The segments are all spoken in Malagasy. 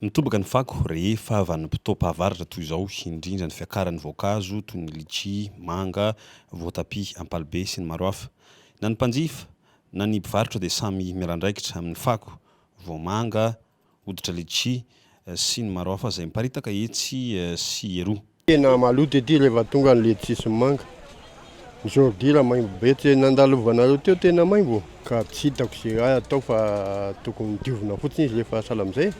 Mitobaka ny fako rehefa vanim-potoam-pahavaratra toy izao, indrindra ny fiakaran'ny voankazo toy ny litchi, manga, voatabia, ampalibe sy ny maro hafa. Na ny mpanjifa na ny mpivarotra dia samy miala andraikitra amin'ny fako, voamanga, hoditra litchi sy ny maro hafa izay miparitaka etsy sy eroa. Tena maloto ity rehefa tonga ny letchis sy manga. Ny zordira maimbo be. Tsy nandalovanareo teo tena maimbo ka tsy hitako izay ahy atao fa tokony diovina fotsiny izy rehefa sahala amin'izay.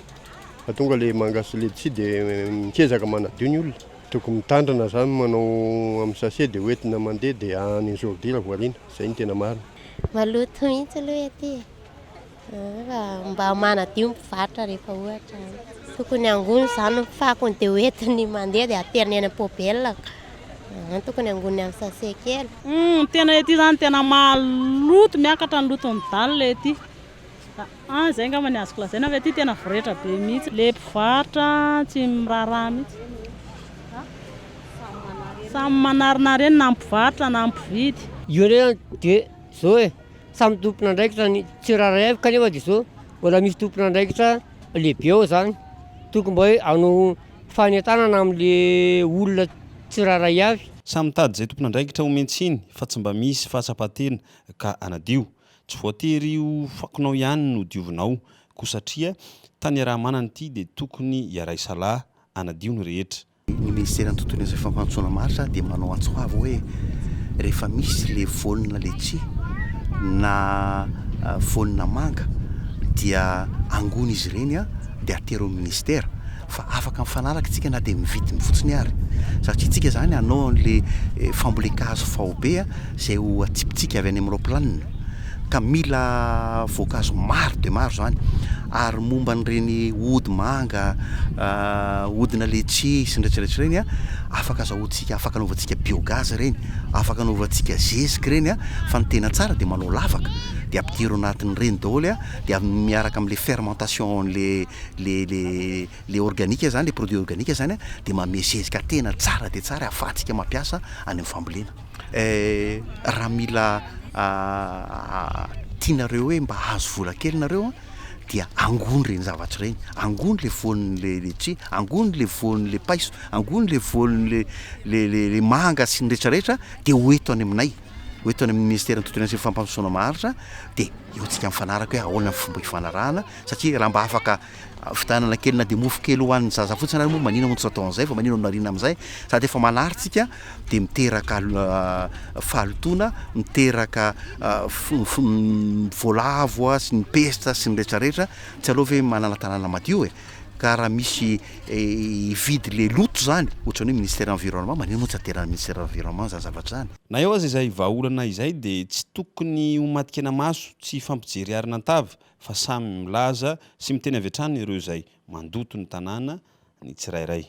Fa tonga ilay manga sy letchis dia mikezaka manadio ny olona. Tokony mitandrina izany manao amin'ny sachet dia hoentina mandeha dia any ny zordira voariana. Izay no tena marina. Maloto mihitsy aloha ety e. Mba manadio ny mpivarotra rehefa ohatra tokony angony izany ny fakony dia ho entiny mandeha dia ateriny eny am-pobela. Ah, tokony angony amin'ny sase kely. Hmm, tena ety izany tena maloto, miakatra ny loton'ny dalina ety. Ah, izay angamba ny azoko lazaina fa ety tena voretra be mihitsy. Le mpivarotra tsy miraharaha mihitsy. Samy manarinareny na ny mpivarotra na ny mpividy. Io re dia zao e. Samy tompon'andraikitra ny tsirairay avy kanefa dia zao mbola misy tompon'andraikitra lehibe ao zany, tokony mba hoe hanao fanentanana amle olona tsirairay avy. Samy mitady izay tompon'andraikitra omen-tsiny fa tsy mba misy fahatsapan-tena ka hanadio. Tsy voatery io fakonao ihany no diovinao ko satria tany iaraha-manana ity dia tokony hiara-hisalahy hanadio ny rehetra. Ny ministeran'ny tontolo iainana sy fampandrosoana maharitra dia manao antso avo hoe rehefa misy ilay voanina letchi na voanina manga dia angony izy ireny dia atero amin'ny ministera fa afaka mifanaraka isika na dia ny vidiny fotsiny ary satria isika izany hanao an'ilay fambolen-kazo faobe izay ho atsipitsika avy any amin'ny raoplanina ka mila voankazo maro dia maro izany. Ary momba an'ireny ody manga, odina letchie sy ny retraretra ireny an, afaka azahoantsika, afaka anaovantsika biogaz ireny, afaka anaovantsika zezika ireny an, fa ny tena tsara dia manao lavaka dia ampidiro ao anatin'ireny daholo an, dia miaraka amin'ilay fermentation an'ilay le le le organique izany, le produit organique izany an, dia manome zezika tena tsara dia tsara ahafahantsika mampiasa any amin'ny fambolena. Raha mila tianareo hoe mba hahazo vola kely nareo an, dia angony ireny zavatra ireny, angony le voany le letchis, angony le voany le paiso, angony le voany le le le le manga sy ny rehetra rehetra dia ho eto any aminay, ho eto any amin'ny Ministeran'ny Tontolo Iainana sy Fampandrosoana Maharitra dia eo antsika mifanaraka hoe ahoana ny fomba hifanarahana satria raha mba afaka Fitanana kely na dia mofo kely ho an'ny zaza fotsiny ary moa maninona no tsy atao an'izay fa maninona no ariana amin'izay? Sady efa malarintsika dia miteraka fahalotoana, miteraka voalavo sy ny pesta sy ny retraretra, tsy aleo ve manana tanàna madio e? Ka raha misy hividy ilay loto izany, ohatran'ny hoe Ministère environnement, maninona moa tsy ateran'ny Ministère environnement izany zavatra izany? Na eo aza izay vahaolana izay dia tsy tokony ho matin-kena maso, tsy hifampijery arina an-tava, fa samy milaza sy miteny avy hatrany ireo izay mandoto ny tanàna ny tsirairay.